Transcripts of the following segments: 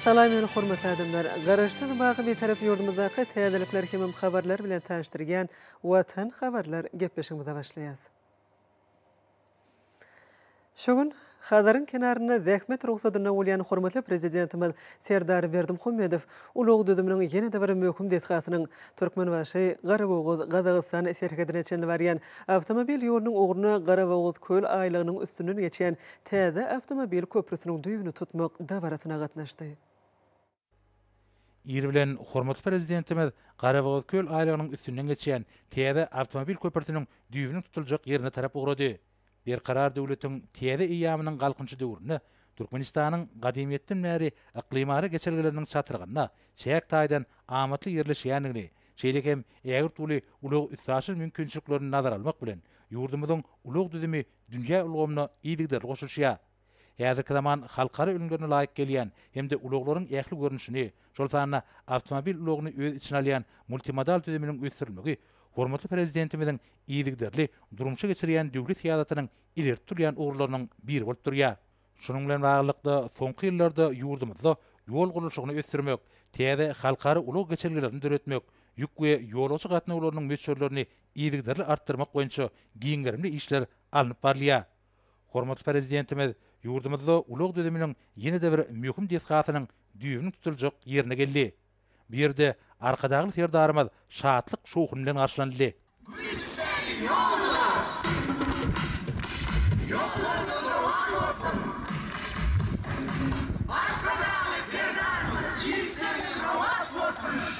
Salam ýöne hormatly adamlar! Garaşsyz baky Bitarap ýurdumyzdaky täzelikler hemem habarlar bilen tanyşdyrýan Watan habarlar gepleşigimize başlaýas. Şu gün Hazaryň kenarynda zähmet rugsadynda bolýan hormatly Prezidentimiz Serdar Berdimuhamedow ulag düzüminiň ýene-de bir möhüm desgasynyň, Türkmenbaşy, Garabogaz, Gazagystan serhedine çenli barýan awtomobil ýolunyň ugruna Garabogazköl aýlagynyň üstünden geçýän täze awtomobil köprüsiniň düýbüni tutmak dabarasyna gatnaşdy. Ir bilen hormatly Prezidentimiz Garabogazköl aýlagynyň üstünden geçýän täze awtomobil köprüsiniň düýbüniň tutuljak ýerine tarap ugrady. Berkarar döwletiň täze eýýamynyň Galkynyşy döwründe Türkmenistanyň gadymyýetden bäri yklymara geçelgeleriniň çatrygynda çäk taýdan amatly ýerleşýändigini, şeýle hem ägirt uly ulag-üstaşyr mümkinçiliklerini nazara almak bilen, ýurdumyzyň ulag düzümi dünýä ulgamyna yzygiderli goşulyşýar. Häzirki zaman halkara ülňülerine laýyk gelýän hem-de ulaglaryň ähli görnüşini, şol sanda awtomobil ulagyny öz içine alýan multimodal düzüminiň ösdürilmegi hormatly Prezidentimiziň yzygiderli durmuşa geçirýän döwlet syýasatynyň ileri tutulýan ugurlarynyň biri bolup durýar. Şunuň bilen baglylykda, soňky ýyllarda ýurdumyzda ýol gurluşygyny ösdürmek, täze halkara ulag geçelgelerini döretmek, ýük we ýolagçy gatnawlarynyň möçberlerini yzygiderli artdyrmak boýunça giň gerimli işler alnyp barylýar. Hormatly Prezidentimiz ýurdumyzda ulag düzüminiň ýene-de bir möhüm desgasynyň düýbüniň tutuljak ýerine geldi. Bu ýerde Arkadagly Serdarymyz şatlyk-şowhun bilen garşylanyldy. Güýçler ýoluna! Ýollarymyz rowan bolsun! Arkadagly Serdarymyz işleriňiz rowaç bolsun!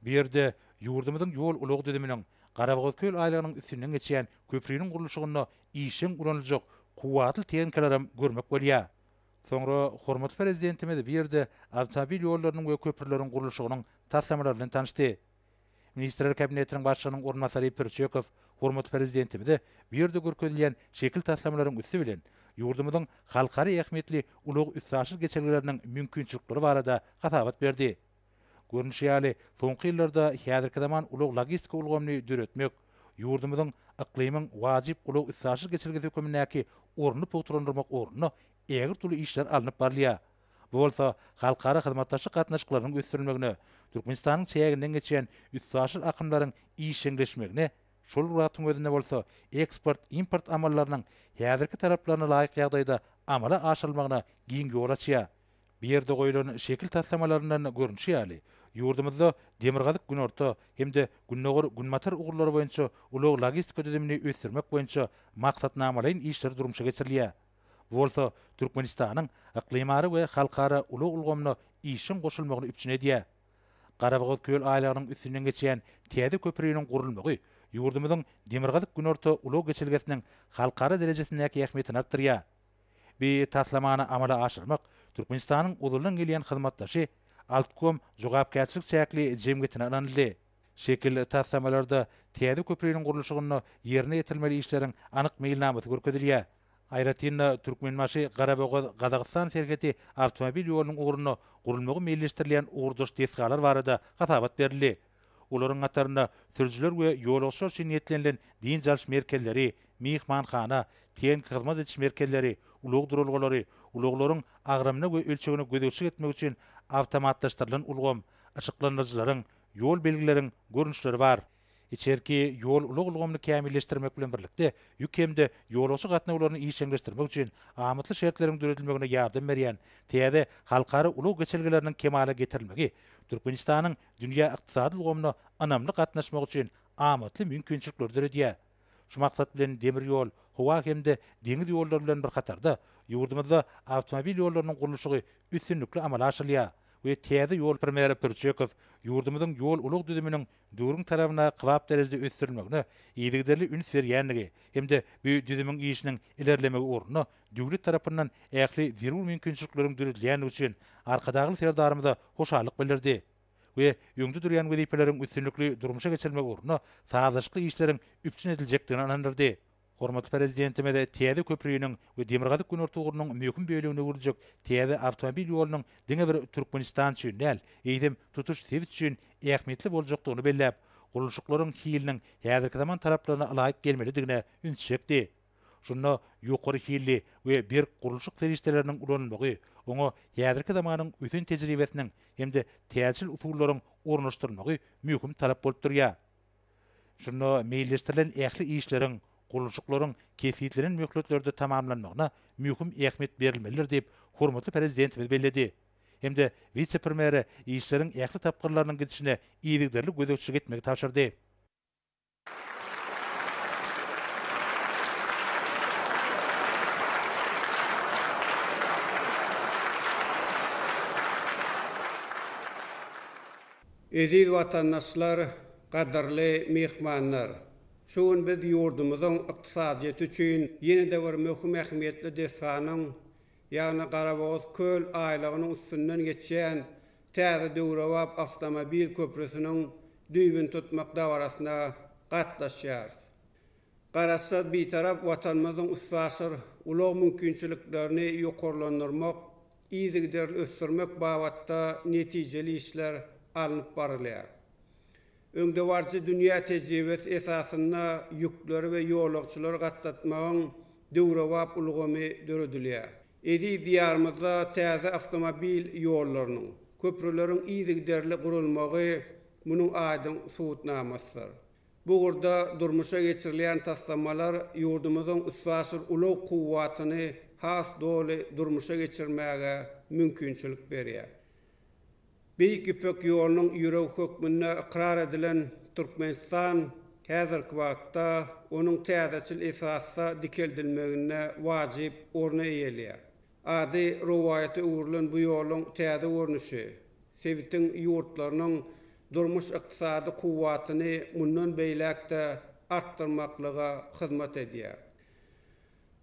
Bu ýerde ýurdumyzyň ýol-ulag düzüminiň, Garabogazköl aýlagynyň üstünden geçýän köpriniň gurluşygynda işjeň ulanyljak kuwwatly tehnikalaram görmek bolýar. Soňra hormatly Prezidentimiz bu ýerde awtomobil ýollarynyň we köprüleriň gurluşygynyň taslamalarybilen tanyşdy. Ministrler Kabinetiniň Başlygynyň orunbasary Pürçekow hormatly Prezidentimize bu ýerde görkezilýän şekil taslamalaryň üsti bilen ýurdumyzyň halkara ähmiýetli ulag-üstaşyr geçelgeleriniň mümkinçilikleri barada hasabat berdi. Görnüşi ýaly, soňky ýyllarda häzirki zaman ulag-logistika ulgamyny döretmek, ýurdumyzyň yklymyň wajyp ulag-üstaşyr geçelgesi hökümindäki ornuny pugtalandyrmak ugrunda ägirt uly işler alnyp barylýar. Bu bolsa halkara hyzmatdaşlyk gatnaşyklarynyň ösdürilmegine, Türkmenistanyň çäginden geçýän üstaşyr akymlaryň işjeňleşmegine, şol wagtyň özünde bolsa eksport-import amallarynyň häzirki talaplaryna laýyk ýagdaýda amala aşyrylmagyna giň ýol açýar. Bu ýerde goýlan şekil taslamalaryndan görnüşi ýaly, ýurdumyzda Demirgazyk-Günorta hem-de Gündogar-Günbatar ugurlary boýunça ulag-logistika düzümini ösdürmek boýunça maksatnamalaýyn işler durmuşa geçirilýär. Bu bolsa Türkmenistanyň yklymara we halkara ulag ulgamyna işiň goşulmagyny üpjün edýär. Garabogazköl aýlagynyň üstünden geçýän täze köpriniň gurulmagy ýurdumyzyň Demirgazyk-Günorta ulag geçelgesiniň halkara derejesindäki ähmiýetini artdyrýar. Bi taslamany amala aşyrmak Türkmenistanyň ozaldan gelýän hyzmatdaşy Altkom jogapkärçilik çäkli jemgyýetine ynanyldy. Şekil taslamalarda täze köpriniň gurluşygynda ýerine ýetirilmeli işleriň anyk meýilnamasy görkezilýär. Aýratyn-da, Türkmenbaşy-Garabogaz Gazagystan serheti awtomobil ýolunyň ugrunda gurulmagy meýilleşdirilýän ugurdaş desgalar barada hasabat berildi. Olaryň hatarynda sürüjiler we ýolagçylar üçin niýetlenilen dynç alyş merkezleri, myhmanhana, TNK hyzmat ediş merkezleri, ulag duralgalary, ulaglaryň agramyna we ölçegine gözegçilik etmek üçin awtomatlaşdyrylan ulgam, yşyklandyryjylaryň, ýol belgileriň görnüşleri bar. Içerki ýol ulag ulgamyny kämilleşdirmek bilen birlikde, ýük hem-de ýolagçy gatnawlaryny işjeňleşdirmek üçin amatly şertleriň döredilmegine ýardam berýän täze halkara ulag geçelgeleriniň kemala getirilmegi Türkmenistanyň dünýä ykdysady ulgamyna ynamly gatnaşmak üçin amatly mümkinçilikleri döredýär. Şu maksat bilen demir ýol, howa hem-de deňiz ýollary bilen bir hatarda, ýurdumyzda awtomobil ýollarynyň gurluşygy üstünlikli amala aşyrylýar we täze ýol Premýer Pürçekow ýurdumyzyň ýol-ulag düzüminiň döwrüň talabynda kybap derejede ösdürilmegine yzygiderli üns berýändigi hem-de bu düzümiň işiniň ilerlemegi ugrunda döwlet tarapyndan ähli zerur mümkinçilikleriň döredilýändigi üçin Arkadagly Serdarymyza hoşallyk bildirdi we öňde durýan wezipeleriň üstünlikli durmuşa geçirilmegi ugrunda sazlaşykly işleriň üpjün ediljekdigine ynandyrdy. Hormatly Prezidentimiz täze köpriniň we Demirgazyk-Günorta ugrunyň möhüm bölegine öwrüljek täze awtomobil ýolunyň diňe bir Türkmenistan üçin däl, eýsem, tutuş sebit üçin ähmiýetli boljakdygyny belläp, gurluşyklaryň hiliniň häzirki zaman talaplaryna ylaýyk gelmelidigine üns çekdi. Şunda ýokary hilli we berk gurluşyk serişdeleriniň ulanylmagy, oňa häzirki zamanyň ösen tejribesiniň hem-de täjirçil usullaryň ornaşdyrylmagy möhüm talap bolup durýar. Şunda meýilleşdirilen ähli işleriň, gurluşyklaryň kesgitlenen möhletlerde tamamlanmagyna möhüm ähmiýet berilmelidir diýip, hormatly Prezidentimiz belledi hem-de wise-premýere işleriň ähli tapgyrlarynyň gidişine yzygiderli gözegçilik etmegi tabşyrdy. Eziz watandaşlar, gadyrly myhmanlar! Şu gün biz ýurdumyzyň ykdysadyýeti üçin ýene-de bir möhüm ähmiýetli desganyň, ýagny Garabogaz köl aýlagynyň üstünden geçýän täze döwrebap awtomobil köprüsiniň düýbüni tutmak dabarasyna gatnaşýarys. Garaşsyz Bitarap Watanymyzyň üstaşyr ulag mümkinçiliklerini ýokarlandyrmak yzygiderli ösdürmek babatda netijeli işler alnyp barylýar. Öňdebaryjy dünýä tejribesi esasynda ýükleri we ýolagçylary gatnatmagyň döwrebap ulgamy döredilýär. Eziz Diýarymyzda täze awtomobil ýollarynyň, köprüleriň yzygiderli gurulmagy munuň aýdyň subutnamasydyr. Bu ugurda durmuşa geçirilýän taslamalar ýurdumyzyň üstaşyr ulag kuwwatyny has doly durmuşa geçirmäge mümkinçilik berýär. Beýik Ýüpek ýolunyň ýüregi hökmünde ykrar edilen Türkmenistan häzirki wagtda onuň täzeçil esasda dikeldilmeginde wajyp orny eýeleýär. Ady rowaýata öwrülen bu ýoluň täze görnüşi sebitiň ýurtlarynyň durmuş-ykdysady kuwwatyny mundan beýläk-de artdyrmaklyga hyzmat edýär.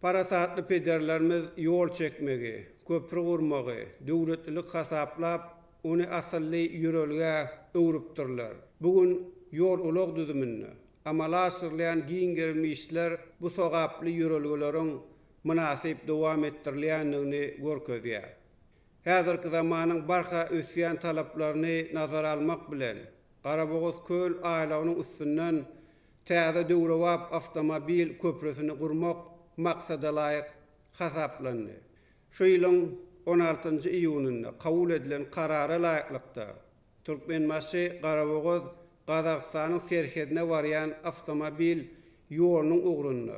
Parasatly pederlerimiz ýol çekmegi, köpri gurmagy döwletlilik hasaplap, ony asylly ýörelgä öwrüpdirler. Bu gün ýol-ulag düzüminde amala aşyrylýan giň gerimli işler bu sogaply ýörelgeleriň mynasyp dowam etdirilýändigini görkezýär. Häzirki zamanyň barha ösýän talaplaryny nazara almak bilen, Garabogaz köl aýlagynyň üstünden täze döwrebap awtomobil köprüsini gurmak maksadalaýyk hasaplandy. Şu ýylyň on altynjy iýunynda kabul edilen Karara laýyklykda, Türkmenbaşy, Garabogaz, Gazagystanyň serhedine barýan awtomobil ýolunyň ugrunda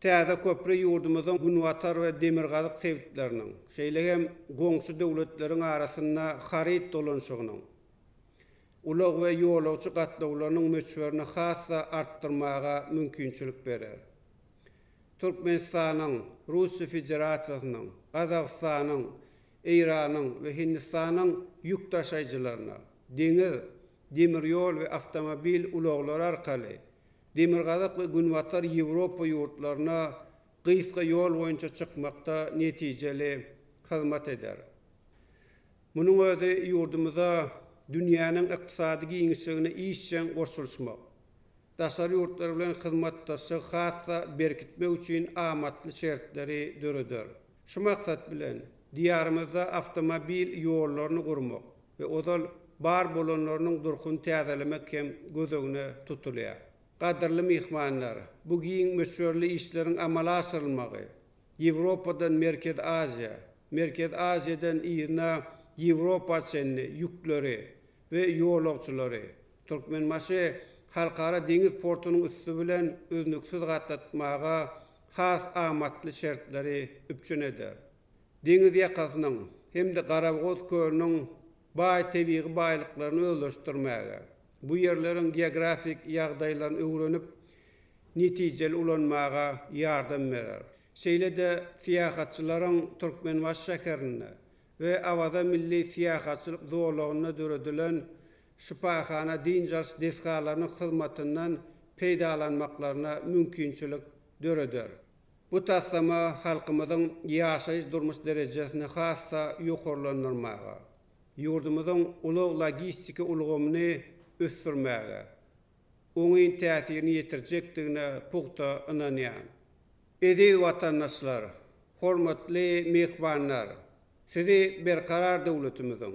Täze köpri ýurdumyzyň günbatar we demirgazyk sebitleriniň, şeýle hem goňşy döwletleriň arasynda haryt dolanşygynyň, ulag we ýolagçy gatnawlarynyň möçberini has-da artdyrmaga mümkinçilik berer. Türkmenistanyň, Russiýa Federasiýasynyň, Gazagystanyň, Eýranyň we Hindistanyň ýük daşaýjylaryna deňiz, demir ýol we awtomobil ulaglary arkaly Demirgazyk we Günbatar Ýewropa ýurtlaryna gysga ýol boýunça çykmakda netijeli hyzmat eder. Munuň özi ýurdumyza dünýäniň ykdysady giňişligine işjeň goşulyşmak, daşary ýurtlar bilen hyzmatdaşlygy has-da berkitmek üçin amatly şertleri döreder. Şu maksat bilen, Diýarymyzda awtomobil ýollaryny gurmak we ozal bar bolanlarynyň durkuny täzelemek hem göz öňüne tutulýar. Gadyrly myhmanlar, bu giň möçberli işleriň amala aşyrylmagy Ýewropadan Merkezi Aziýa, Merkezi Aziýadan yzyna Ýewropa çenli ýükleri we ýolagçylary Türkmenbaşy Halkara deňiz portunyň üsti bilen üznüksiz gatnatmaga has amatly şertleri üpjün eder. Deňiz ýakasynyň hem-de Garabogaz kölüniň baý tebigy baýlyklaryny özleşdirmäge, bu ýerleriň geografik ýagdaýlaryny öwrenip, netijeli ulanmaga ýardam berer. Şeýle-de syýahatçylaryň Türkmenbaşy şäherinde we Awaza milli syýahatçylyk zolagynda döredilen şypahana, dynç alyş desgalarynyň hyzmatyndan peýdalanmaklaryna mümkinçilik döreder. Bu taslama halkymyzyň ýaşaýyş-durmuş derejesini has-da ýokarlandyrmaga, ýurdumyzyň ulag-logistiki ulgamyny ösdürmäge oňyn täsirini ýetirjekdigine pugta ynanýan. Eziz watandaşlar, hormatly myhmanlar, sizi Berkarar döwletimiziň,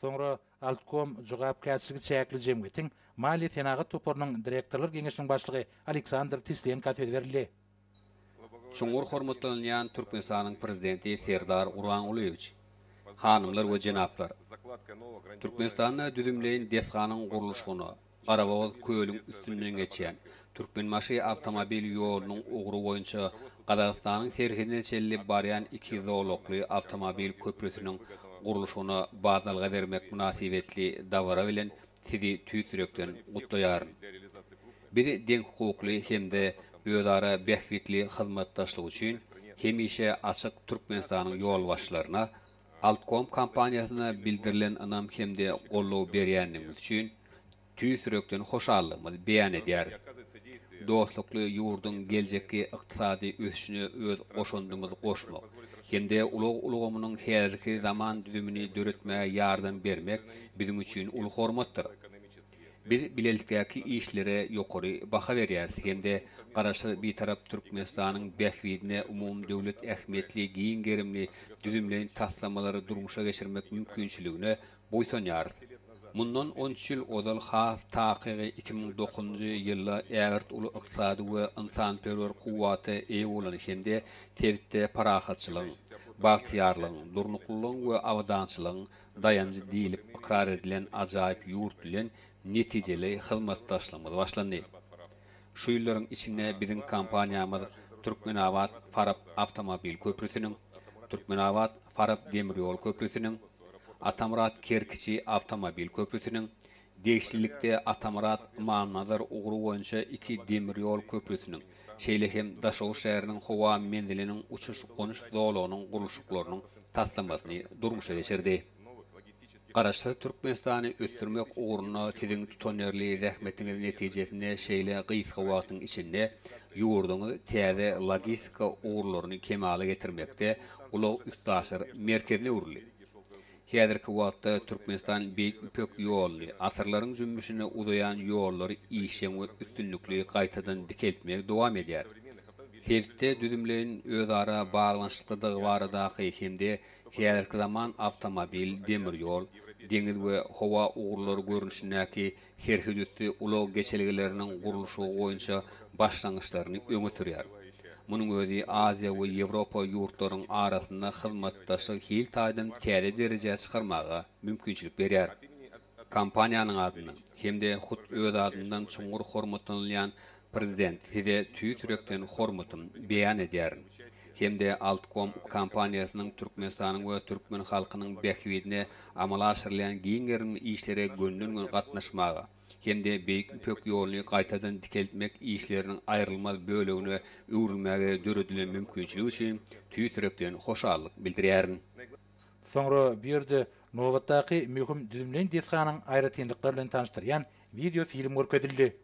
Soňra Altkom jogapkärçiligi çäkli jemgyýetiň Maliýe-senagat toparynyň direktorlar geňeşiniň başlygy Aleksandr Tislenka söz berildi. Çuňňur hormatlanylýan Türkmenistanyň Prezidenti Serdar Gurbangulyýewiç! Hanymlar we jenaplar! Türkmenistanda düzümleýin desganyň gurluşygyna, Garabogaz kölüň üstünden geçýän Türkmenbaşy awtomobil ýolunyň ugry boýunça Gazagystanyň serhedine çenli barýan iki zolakly awtomobil köprüsiniň gurluşygyna badalga bermek mynasybetli dabara bilen Sizi tüýs ýürekden gutlaýaryn. Biz deňhukukly hem-de özara bähbitli hyzmatdaşlyk üçin hemişe açyk Türkmenistanyň ýolbaşçylaryna Altkom kompaniýasyna bildirilen ynam hem-de goldaw berýändigiňiz üçin tüýs ýürekden hoşallygymyzy beýan edýäris. Dostlukly ýurduň geljekki ykdysady ösüşine öz goşandymyzy goşmak hem-de ulag ulgamynyň häzirki zaman düzümini döretmäge ýardam bermek biziň üçin uly hormatdyr. Biz bilelikdäki işlere ýokary baha berýäris hem-de Garaşsyz, Bitarap Türkmenistanyň bähbidine umumydöwlet ähmiýetli giň gerimli düzümleýin taslamalary durmuşa geçirmek mümkinçiligine buýsanýarys. Mundan on üç ýyl ozal has takygy iki müň dokuzynjy ýylda ägirt uly ykdysady we ynsanperwer kuwwata eýe bolan hem-de sebitde parahatçylygyň, bagtyýarlygyň, durnuklylygyň we abadançylygyň daýanjy diýlip ykrar edilen ajaýyp ýurt bilen netijeli hyzmatdaşlygymyz başlandy. Şu ýyllaryň içinde biziň kompaniýamyz Türkmenabat, Farap awtomobil köprüsiniň, Türkmenabat, Farap demir ýol köprüsiniň, Atamyrat, Kerkiçi awtomobil köprüsiniň Degişlilikde, Atamyrat, Ymamnazar ugry boýunça iki demir ýol köprüsiniň, şeýle hem Daşoguz şäheriniň howa menziliniň uçuş-gonuş zolagynyň gurluşyklarynyň taslamasyny durmuşa geçirdi. Garaşsyz Türkmenistany ösdürmek ugrunda siziň tutanýerli zähmetiňiz netijesinde şeýle gysga wagtyň içinde ýurduňyz täze logistika ugurlaryny kemala getirmekde ulag-üstaşyr merkezine öwrüldi. Häzirki wagtda Türkmenistan Beýik Ýüpek ýoluny, asyrlaryň jümmüşine uzaýan ýollary işjeň we üstünlikli gaýtadan dikeltmegi dowam edýär. Sebitde düzümleýin özara baglanyşyklydygy baradaky hem-de häzirki zaman awtomobil, demir ýol, deňiz we howa ugurlary görnüşindäki serhedüsti ulag geçelgeleriniň gurluşygy boýunça başlangyçlaryny öňe sürýär. Munuň özi Aziýa we Ýewropa ýurtlaryň arasynda hyzmatdaşlygy hil taýdan täze derejä çykarmaga mümkinçilik berýär. Kompaniýanyň adyndan hem-de hut öz adyndan çuňňur hormatlanylýan Prezident, Size tüýs ýürekden hormatym beýan edýärin hem-de Altkom kompaniýasynyň Türkmenistanyň we türkmen halkynyň bähbidine amala aşyrylýan giň gerimli işlere gönden-göni gatnaşmaga hem-de Beýik Ýüpek ýoluny gaýtadan dikeltmek işleriniň aýrylmaz bölegine öwrülmäge döredilen mümkinçilik üçin tüýs ýürekden hoşallyk bildirýärin. Soňra bu ýerde nobatdaky möhüm düzümleýin desganyň aýratynlyklary bilen tanyşdyrýan wideofilm görkezildi.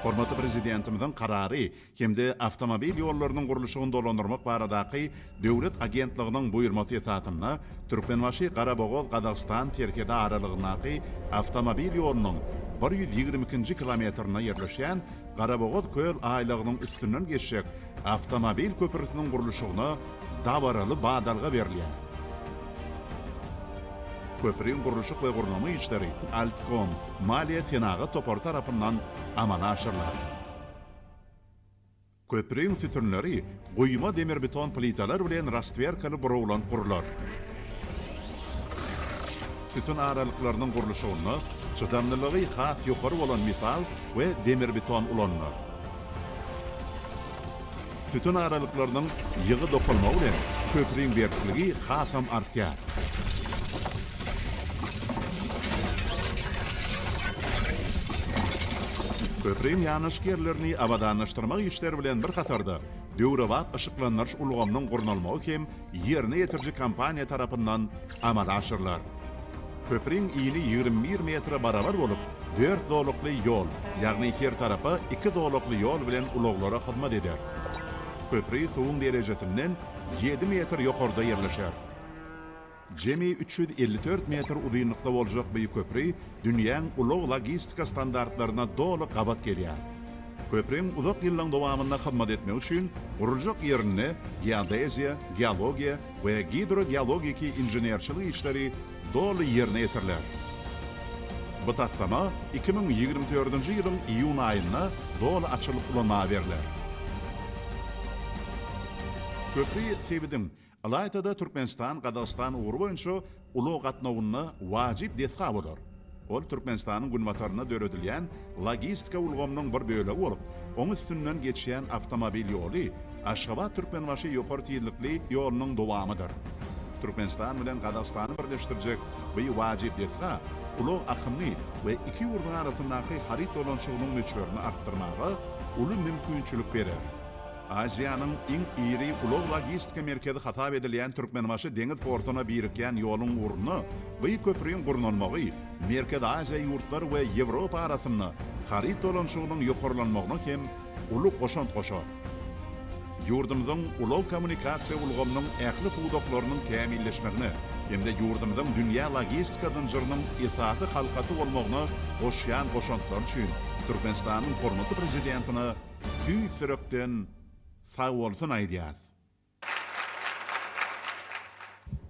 Hormatly Prezidentimiziň Karary hem-de Awtomobil ýollarynyň gurluşygyny dolandyrmak baradaky döwlet agentliginiň buýurmasy esasynda Türkmenbaşy-Garabogaz-Gazagystan serhedi aralygyndaky awtomobil ýolunyň bir ýüz ýigrimi ikinji kilometrinde ýerleşýän Garabogaz köl aýlagynyň üstünden geçjek Awtomobil köprüsiniň gurluşygyna dabaraly badalga berilýär. Köprüň gurluşyk we gurnama işleri Altkom maliýe-senagat topary tarapyndan amala aşyrylar. Köprüň sütünleri guýma demirbeton plitalar bilen rastwerkaly burawlan gurular. Sütün aralyklarynyň gurluşygynda çydamlylygy has ýokary bolan metal we demirbeton ulanylar. Sütün aralyklarynyň ýygy dokalmagy bilen köpriň berkligi hasam artýar. Köpriň ýanaşyk ýerlerini abadanlaşdyrmak işleri bilen bir hatarda, döwrebap yşyklandyryş ulgamynyň gurnalmagy hem ýerine ýetiriji kompaniýa tarapyndan amala aşyrylar. Köpriň yny ýigrimi bir metre barabar bolup, dört zolakly ýol, ýagny her tarapa iki zolakly ýol bilen ulaglara hyzmat eder. Köpri suwuň derejesinden ýedi metr ýokarda ýerleşer. Jemi üç ýüz elli dört metr uzynlykda boljak bu köpri dünýäň ulag-logistika standartlaryna doly gabat gelýär. Köpriň uzak ýyllaryň dowamynda hyzmat etmegi üçin guruljak ýerinde geodeziýa, geologiýa we gidrogeologiki inženerçilik işleri doly ýerine ýetiriler. Bu taslama iki müň ýigrimi dördünji ýylyň iýun aýynda doly açylyp ulanmaga berler. Köpri sebitiň Ylaýta-da Türkmenistan-Gazagystan ugry boýunça ulag gatnawynda wajyp desga bolar. Ol Türkmenistanyň günbatarynda döredilýän logistika ulgamynyň bir bölegi bolup, oň üstünden geçýän awtomobil ýoly Aşgabat-Türkmenbaşy ýokary tizlikli ýolunyň dowamydyr. Türkmenistan bilen Gazagystany birleşdirjek bu wajyp desga ulag akymyny we iki ýurduň arasyndaky haryt dolanyşygynyň möçberini artdyrmaga uly mümkinçilik berer. Aziýanyň iň iri ulag-logistika merkezi hasap edilýän Türkmenbaşy deňiz portuna birikýän ýoluň ugrunda gyýw köprüň gurnalmagy Merkezi Aziýa ýurtlary we Ýewropa arasynda haryt dolanyşygynyň ýokarlanmagyna hem uly goşant goşar. Ýurdumyzyň ulag-kommunikasiýa ulgamynyň ähli pudaklarynyň kämilleşmegine hem-de ýurdumyzyň dünýä logistika zynjyrynyň esasy halkasy bolmagyna goşýan goşantlary üçin Türkmenistanyň hormatly Prezidentine tüýs ýürekden sagbolsun aýdýas.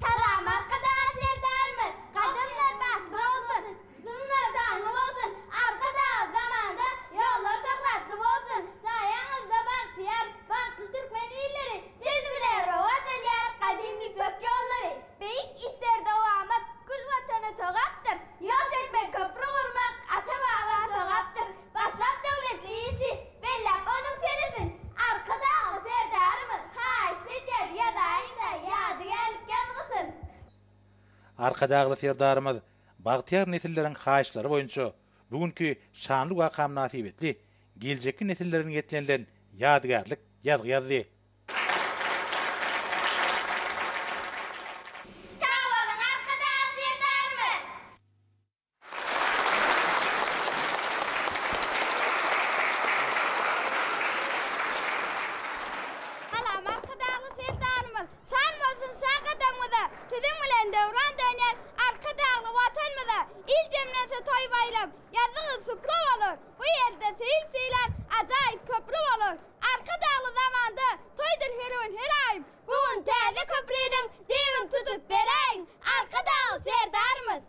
Salam Arkadagly Serdarymyz gadymlar bagtly bolsun jynslar şanly bolsun Arkadagly zamanda ýollar şöhratly bolsun saýaňyzda bagtyýar bagtly türkmen illeri siz bile rowaç edýär gadym ýüpek ýollary beýik işler dowamat gül watana sogapdyr ýol çekmek köpri gurmak ata baba sogapdyr Başlap döwletli işi belläp onuň seresini Arkadagly Serdarymyz haýyşt edýär ýazaýyňda ýadygärlik ýazgysyn. Arkadagly Serdarymyz bagtyýar nesilleriň haýyştlary boýunça bu günki şanly waka mynasybetli geljekki nesillere niýetlenilen ýadygärlik ýazgy ýazdy. Sag boluň Arkadagly Serdarymyz! Salam Arkadagly Serdarymyz şan bolsun şa gadamňyza siziň bilen döwran döner Arkadagly Watanmyza il jemlense toý baýlam ýazzyňyz suplu bolar bu ýerde seýil sylar ajaýyp köpri bolar Arkadagly zamanda toýdur her gün her aýym bu gün täze köpriniň düýbin tutup beräýiň Arkadagly Serdarymyz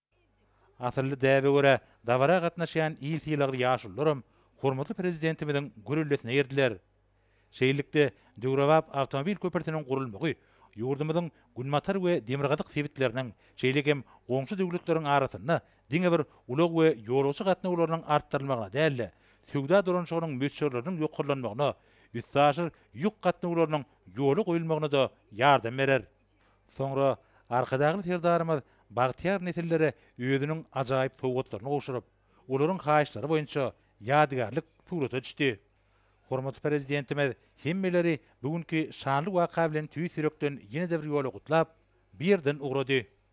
Asylly däbe görä, dabara gatnaşýan il sylagly ýaşulularam hormatly Prezidentimiziň gürrüldesine girdiler. Şeýlelikde, döwrebap awtomobil köprüsiniň gurulmagy ýurdumyzyň günbatar we demirgazyk sebitleriniň, şeýle hem goňşy döwletleriň arasynda diňe bir ulag we ýolagçy gatnawlarynyň artdyrylmagyna däl-de, söwda dolanyşygynyň möçberleriniň ýokarlanmagyna, üstaşyr ýük gatnawlarynyň ýola goýulmagyna-da ýardam berer. Soňra Arkadagly Serdarymyz bagtyýar nesillere özüniň ajaýyp sowgatlaryny gowşuryp, olaryň haýyşlary boýunça ýadygärlik surata düşdi. Hormatly Prezidentimiz hemmeleri bu günki şanly waka bilen tüýs ýürekden ýene-de bir ýola gutlap, bu ýerden ugrady.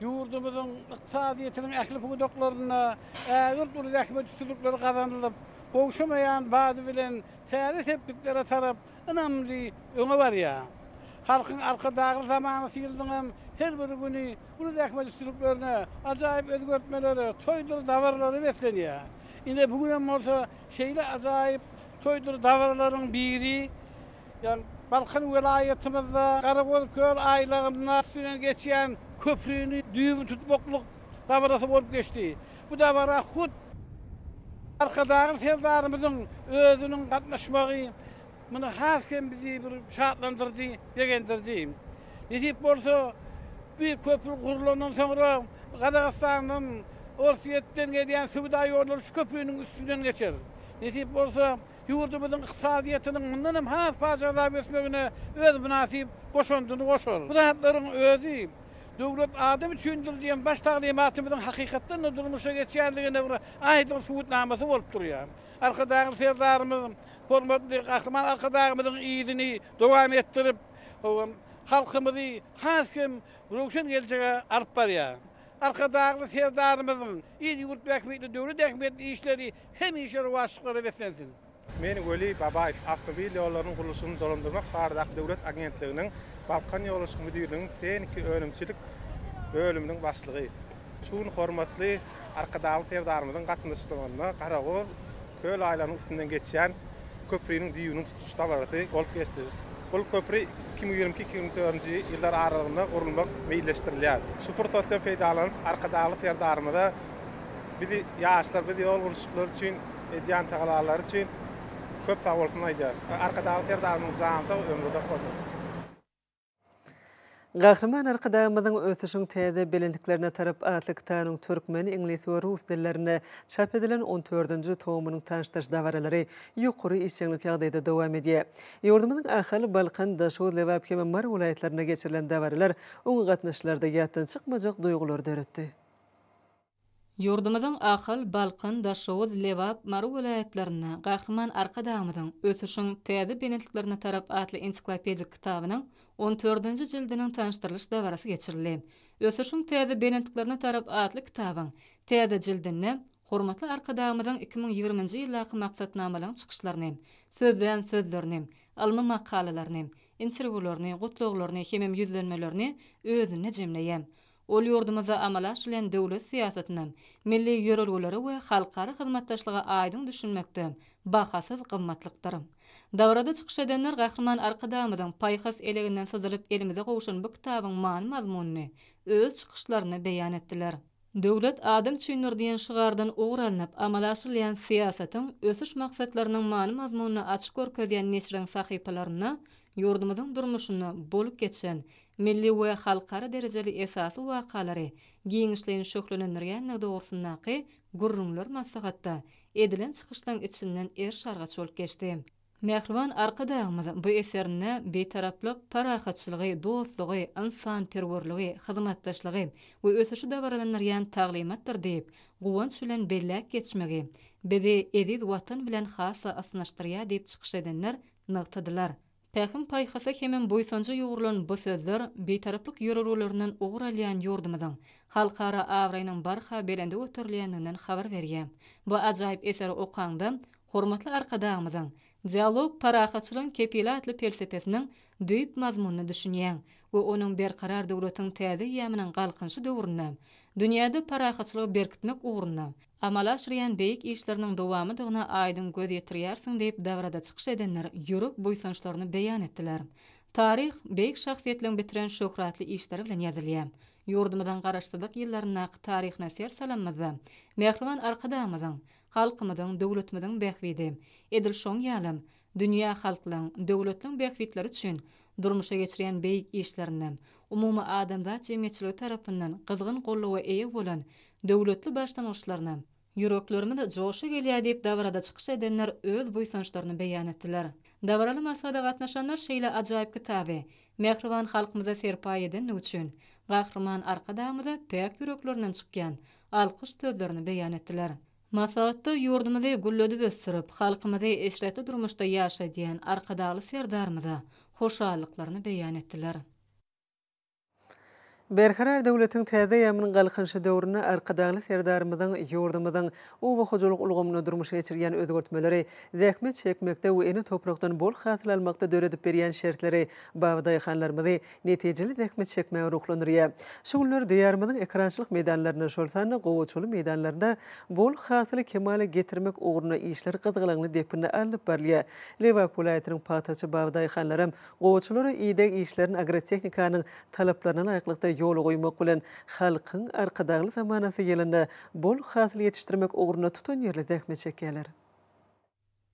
Ýurdumyzyň ykdysadyýetiniň ähli pudaklarynda ägirt uly zähmet üstünlikleri gazanylyp, gowşamaýan bady bilen täze sepgitlere tarap ynamly öňe barýar. Halkyň Arkadagly zamanasy ýylynyň hem her bir güni uly zähmet üstünliklerine, ajaýyp özgertmelere, toýdur dabaralara beslenýär. Ine, bu gün hem bolsa şeýle ajaýyp toýdur dabaralaryň biri. Ýöne Balkan welaýatymyzda Garagolköl aýlagynda üstünden geçýän köprini düýbüni tutmaklyk dabarasy bolup geçdi. Bu dabara hut Arkadagly Serdarymyzyň özüniň gatnaşmagy muny has hem bizi bir şatlandyrdy, begendirdi. Nesip bolsa, bu köpri gurlandan soňra Gazagystandan, Orsýetden gelýän söwda ýollary şu köpriniň üstünden geçer. Nesip bolsa, ýurdumyzyň ykdysadyýetiniň mundan hem has pajarlap ösmegine öz mynasyp goşandyny goşar. Bu zatlaryň özi Döwlet adam üçindir! diýen baş taglymatymyzyň hakykatdan-da durmuşa geçýändigine bir aýdyň subutnamasy bolup durýar. Arkadagly Serdarymyz hormatly Gahryman Arkadagymyzyň yzyny dowam etdirip, halkymyzy has hem röwşen geljege alyp barýar. Arkadagly Serdarymyzyň il-ýurt bähbitli, döwlet ähmiýetli işleri Hemişe rowaçlyklara beslensin! Men Weli Babaýew, Awtomobil ýollarynyň gurluşygyny dolandyrmak baradaky döwlet agentliginiň Balkanýollaryşyk müdirliginiň tehniki önümçilik bölüminiň başlygy. Şu gün hormatly Arkadagly Serdarymyzyň gatnaşmagynda Garagor köl aýlagynyň üstünden geçýän köpriniň düýbüniň tutuş dabarasy bolup geçdi. Bul köpri iki müň ýigrimi iki-iki müň ýigrimi dördünji ýyllar aralygynda gurulmak meýilleşdirilýär. Şu pursatdan peýdalanyp, Arkadagly Serdarymyza, Biz ýaşlar biz ýol gurluşyklary üçin edýän tagallalary üçin köp sag bolsun aýdýarys. Arkadagly Serdarymyň jany sag, ömri uzak bolsun! Gahryman Arkadagymyzyň Ösüşiň täze belentliklerine tarap atly kitabynyň türkmen, iňlis we rus dillerinde çap edilen on dördünji tomunyň tanyşdyryş dabaralary ýokary işjeňlik ýagdaýda dowam edýär. Ýurdumyzyň Ahal, Balkan, Daşoguz, Lebap hem-ä Mary welaýatlarynda geçirilen dabaralar öňügatnaşyjylarda ýatdan çykmajak duýgulary döretdi. Ýurdumyzyň Ahal, Balkan, Daşoguz, Lebap, Mary welaýatlarynda Gahryman Arkadagymyzyň Ösüşiň täze belentliklerine tarap atly ensiklopedik kitabynyň on dördünji jildiniň tanyşdyrylyş dabarasy geçirildi. Ösüşiň täze belentliklerine tarap atly kitabyň täze jildinde hormatly Arkadagymyzyň iki müň ýigriminji ýyldaky maksatnamalaryň çykyşlaryny, sözlän sözlerini, ylmy makalalaryny, interwýularyny, gutlaglaryny hemem ýüzlenmelerini özünde jemleýär. Ol ýurdumyzda amala aşyrylýan döwlet syýasatyna, milli ýörelgelere we halkara hyzmatdaşlyga aýdyň düşünmekde bahasyz gymmatlykdyr. Dabarada çykyş edenler Gahryman Arkadagymyzyň paýhas eleginden syzylyp elimize gowşan bu kitabyň many-mazmunyny öz çykyşlarynda beýan etdiler. Döwlet adam üçindir diýen şygardan ugur alnyp amala aşyrylýan syýasatyň ösüş maksatlarynyň many-mazmunyny açyp görkezýän neşiriň sahypalarynda ýurdumyzyň durmuşynda bolup geçen, milli we halkara derejeli esasy wakalary giňişleýin şöhlelendirýändigi dogrusyndaky gürrüňler maslahatda edilen çykyşlaryň içinden er-şargaç bolup geçdi. Mähriban Arkadagymyz bu eserinde Bitaraplyk, parahatçylygy, dostlugy, ynsanperwerligi, hyzmatdaşlygy we ösüşi dabaralandyrýan taglymatdyr diýip, guwanç bilen belläp geçmegi bizi eziz Watan bilen has-da ysnyşdyrýar diýip çykyş edenler nygtadylar. Pähim-paýhasa hemem buýsanja ýugrulan bu sözler Bitaraplyk ýörelgelerinden ugur alýan ýurdumyzyň halkara abraýynyň barha belende göterilýändiginden habar berýär. Bu ajaýyp eseri okaňda, hormatly Arkadagymyzyň Dialog, parahatçylygyň kepili atly pelsepesiniň düýp mazmunyna düşünýäň we onuň Berkarar döwletiň täze eýýamynyň Galkynyşy döwründe dünýäde parahatçylygy berkitmek ugrunda amal aşyrýan beýik işleriniň dowamydygyna aýdyň göz ýetirýärsiň diýip dabrada çykyş edenler ýürek buýsançlaryny beýan etdiler. Taryh beýik şahsyýetleriň bitiren şöhratly işleri bilen ýazylýar. Ýurdumyzyň Garaşsyzlyk ýyllaryndaky taryhyna ser salanymyzda mähriban Arkadagymyzyň, halkymyzyň, döwletimiziň bähbidi, edil şoň ýalam, Dünýä halklaryň, döwletleriň bähbitleri üçin durmuşa geçirýän beýik işlerinden, umumadamzat jemgyýetçiligi tarapyndan gyzgyn goldawa eýe bolan döwletli başlangyçlaryndan, Ýüreklerimiz joşa gelýär diýip dabarada çykyş edenler öz buýsançlaryny beýan etdiler. Dabaraly maslahata gatnaşanlar şeýle ajaýyp kitaby mähriban halkymyza serpaý edendigi üçin Gahryman Arkadagymyza päk ýüreklerinden çykýan alkyş sözlerini beýan etdiler. Maslahatda ýurdumyzy gülledip ösdürip, halkymyzy eşretli durmuşda ýaşadýan Arkadagly Serdarymyza hoşallyklaryny beýan etdiler. Berkarar döwletiň täze eýýamynyň Galkynyşy döwründe Arkadagly Serdarymyzyň ýurdumyzyň oba hojalyk ulgamynda durmuşa geçirýän özgertmeleri, zähmet çekmekde we ene toprakdan bol hasyl almakda döredip berýän şertleri, baby daýhanlarymyzy netijeli zähmet çekmäge ruhlandyrýar. Şu günler Diýarymyzyň ekerançylyk meýdanlarynda, şol sanda gowaçaly meýdanlarynda bol hasyly kemala getirmek ugrunda işler gyzgalaňly depginde alnyp barylýar. Lebap welaýatynyň pagtaçy babadaýhanlaram gowaçalara ideg işlerini agrotehnikanyň talaplaryna laýyklykda ýola goýmak bilen, halkyň Arkadagly zamanasy ýylynda bol hasyl ýetişdirmek ugrunda tutanýerli zähmet çekýärler.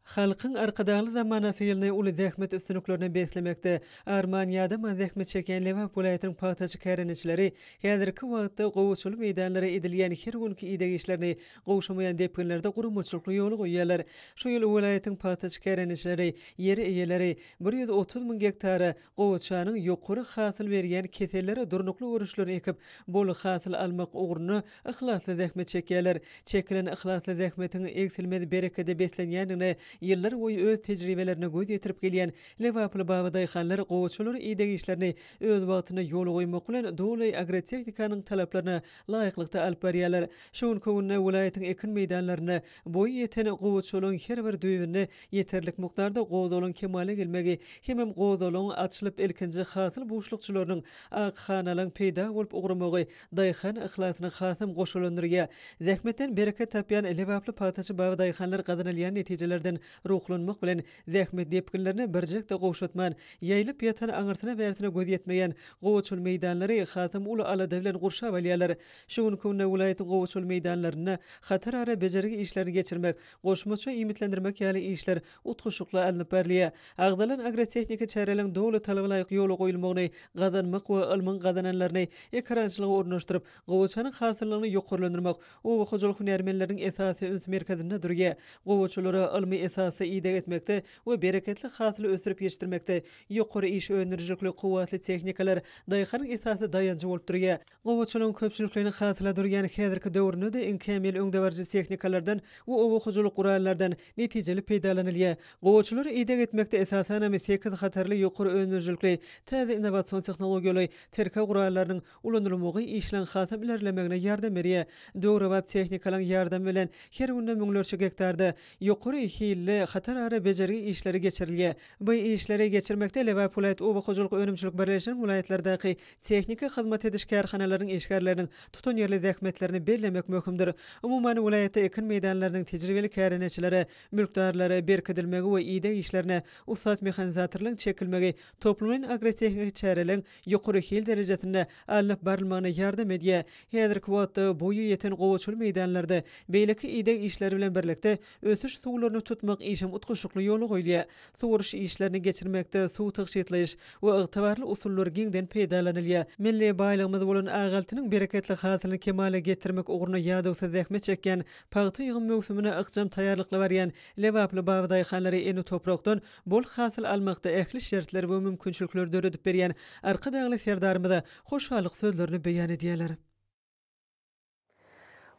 Halkyň Arkadagly zamanasyýlny uly zähmet üstünliklerine beslemekde arman-ýadama zähmet çekýän Lebap welaýatynyň pagtaçy kärendeçileri häzirki wagtda gowaçaly meýdanlara edilýän her günki ideg işlerini gowşamaýan depginlerde guramaçylykly ýola goýýarlar. Şu ýyl welaýatyň pagtaçy kärendeçileri, ýer eýeleri bir ýüz otuz müň gektara gowaçanyň ýokary hasyl berýän kesellere durnukly görüşlerini ekip, bol hasyl almak ugrunda Yhlasly zähmet çekýärler. Çekilen yhlasly zähmetiň egsilmez berekede beslenýändigine ýyllar boýy öz tejribelerine göz ýetirip gelýän lebaply babadaýhanlar gowaçalar ideg işlerini öz wagtynda ýola goýmak bilen doly agrotehnikanyň talaplaryna laýyklykda alyp barýarlar. Şu günki günde welaýatyň ekin meýdanlarynda Boýy ýeten gowaçalaryň her bir düýbünde ýeterlik mukdarda gozalyň kemala gelmegi hemem gozalyň açylyp ilkinji hasyl buşlukçylarynyň, ak hanalaň peýda bolup ugramagy daýhan yhlasyna hasam goşalandyrýar. Zähmetden bereket tapýan lebaply pagtaçy baba daýhanlar gazanylýan netijelerden ruhlanmak bilen zähmet depginlerine birjek-de gowşatman, ýaýylyp ýatan aňyrsyna-bärsine göz ýetmeýän gowaçal meýdanlary hasam uly alada bilen gurşap alýarlar. Şu günki günde welaýatyň gowaçaly meýdanlarynda hatarara bejergi işlerini geçirmek, goşmaça iýmitlendirmek ýaly işler utgaşykly alnyp barylýar. Agzalan agrotehniki çäreleriň doly talaba laýyk ýola goýulmagyny gazanmak we ylmyň gazananlaryny ekerançylyga ornaşdyryp, gowaçanyň hasyllygyny ýokarlandyrmak oba hojalyk hünärmenleriniň esasy üns merkezinde durýar. Gowaçalara ylmy esasda ideg etmekde we bereketli hasyly ösdürip ýetişdirmekde ýokary iş öndürijilikli kuwwatly tehnikalar daýhanyň esasy daýanjy bolup durýar. Gowaçylygyň köpçülikleýin hasyla durýan häzirki döwründe-de iň kämil öňdebaryjy tehnikalardan we oba hojalyk gurallardan netijeli peýdalanylýar. Gowaçylar ideg etmekde esasanam sekiz hatarly ýokary önümlilikli täze innowasion tehnologiýaly tirkeg gurallarynyň ulanylmagy işleň hasam ilerlemegine ýardam berýär. Döwrebap tehnikalaň ýardamy bilen her günde müňlerçe gektarda ýokary hilli hatarara bejergi işleri geçirilýär. Bu işleri geçirmekde Lebap welaýat oba hojalyk önümçilik birleşiginiň welaýatlardaky Tehniki hyzmat ediş kärhanalaryň işgärleriniň tutanýerli zähmetlerini bellemek möhümdir. Umuman, welaýatda ekin meýdanlarynyň tejribeli kärendeçilere, mülkdarlara berkidilmegi we ideg işlerine ussat mehanizatorlaryň çekilmegi toplumlaýyn agrotehniki çäreleň ýokary hil derejesinde alnyp barylmagyna ýardam edýär. Häzirki wagtda boýy ýeten gowaçaly meýdanlarda beýleki ideg işleri bilen birlikde, Ösüş suwlaryny tutmak işem utgaşykly ýola goýulýar. Suwaryş işlerini geçirmekde suw tygşytlaýyş we ygtybarly usullar giňden peýdalanylýar. Milli baýlygymyz bolan ak altynyň bereketli hasylyny kemala getirmek ugrunda ýadawsyz zähmet çekýän, pagta ýygym möwsümine ykjam taýýarlykly barýan lebaply babadaýhanlara ene toprakdan bol hasyl almakda ähli şertleri we mümkinçilikleri döredip berýän Arkadagly Serdarymyza hoşallyk sözlerini beýan edýärler.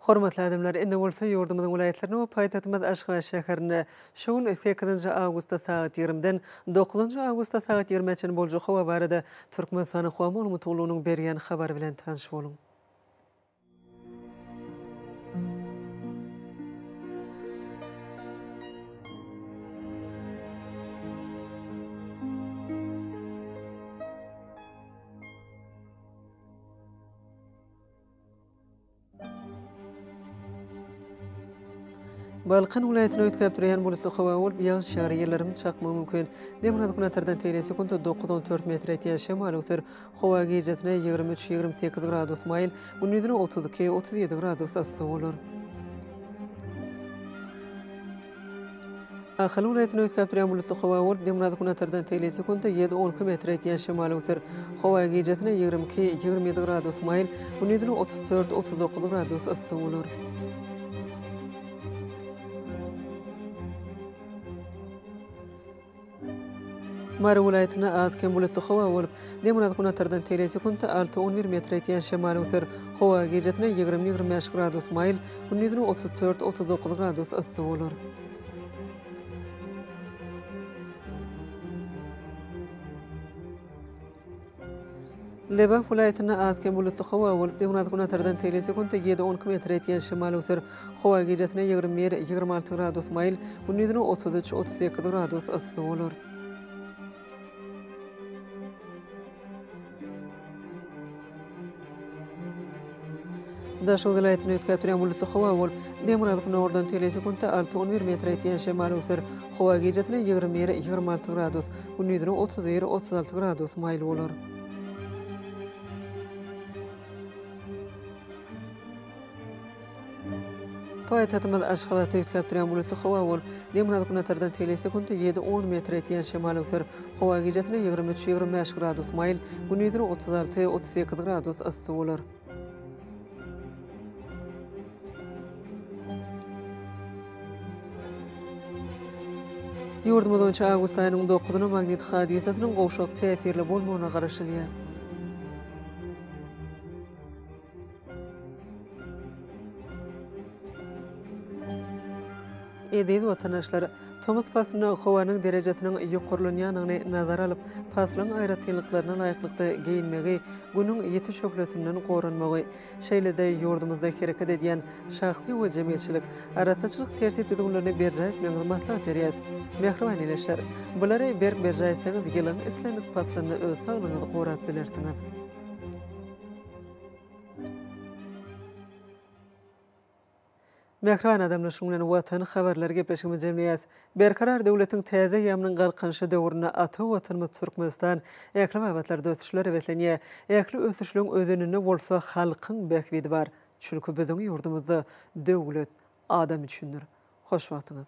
Hormatly adamlar, indi bolsa ýurdumyzyň welaýatlaryna we paýtagtymyz Aşgabat şäherine şu gün, sekizinji awgustda sagat ýigrimiden dokuzynjy awgustda sagat ýigrimä çenli boljak howa barada Türkmenistanyň Howa maglumatgullugynyň berýän habary bilen tanyş boluň. Balkan welaýatyny üýtgäp durýan bulutly howa bolup, ýagyş ýagar, ýyldyrym çakmagy mümkin. Demirgazyk günortadan tegelýän sekuntda dokuz-on dört metre ýetýän şemal öwser. Howa gijesine ýigrimi üç-ýigrimi sekiz gradus maýyl, gündizine otuz iki-otuz ýedi gradus yssy bolar. Ahal welaýatyny üýtgäp durýan bulutly howa bolup, demirgazyk günortadan tegelýän sekuntda ýedi-on iki metre ýetýän şemal öwser. Howa gijasine ýigrimi iki, ýigrimi ýedi gradus maýyl, gündizine otuz dört, otuz dokuz gradus yssy bolar. Mary welaýatynda az-kem bulutly howa bolup, demirgazgünatardan tele sekuntda alty-on bir metre ýetýän şemal öser. Howa gijesine ýigrimi-ýigrimi bäş gradus maýyl, gündizine otuz dört-otuz dokuz gradus yssy bolar. Lebap welaýatynda az kem bulutly howa bolup, demirgazyk-günbatardan seli sekuntda ýedi-on iki metr etýän şemal öser. Howa gijesine ýigrimi bir, ýigrimi alty gradus maýyl, gündizine otuz üç, otuz sekiz gradus yssy bolar. Daşoguz welaýatyny üýtgäp durýan bulutly howa bolup, demirgazyk gündogardan tele sekuntda alty on bir metre ýetýän şemal öwser. Howa gijesine ýigrimi bir, ýigrimi alty gradus, gündizine otuz bir, otuz alty gradus maýyl bolar. Paýtagtymyz Aşgabatda üýtgäp durýan bulutly howa bolup, demirgazyk-günortadan telesekuntda ýedi-on metr etýän şemal öwser. Howa gijesine ýigrimi üç-ýigrimi bäş gradus maýyl, gündizine otuz alty-otuz sekiz gradus yssy bolar. Ýurdumyz boýunça awgust aýynyň dokuzyna magnit hadysasynyň gowşak täsirli bolmagyna garaşylýar. Eziz watandaşlar! Tomus paslynda howanyň derejesiniň ýokarlanýandygyny nazara alyp, paslyň aýratynlyklaryna laýyklykda geýinmegi, Günüň ýiti şöhlesinden goranmagy, şeýle-de ýurdumyzda hereket edýän şahsy we jemgyýetçilik arassaçylyk tertip-düzgünlerini berjaý etmegiňizi maslahat berýäris. Mähriban ildeşler! Bulary berk berjaý etseňiz, ýylyň islendik paslynda öz saglygyňyzy gorap bilersiňiz. Mähriban adamlar şunuň bilen Watan habarlary gepleşigimizi jemleýäs. Berkarar döwletiň täze eýýamynyň Galkynyşy döwründe ata Watanymyz Türkmenistan ähli babatlarda ösüşlere höweslenýär. Ähli ösüşligiň özeninde bolsa halkyň bähbidi bar. Çünki biziň ýurdumyzda döwlet adam üçindir. Hoş wagtyňyz.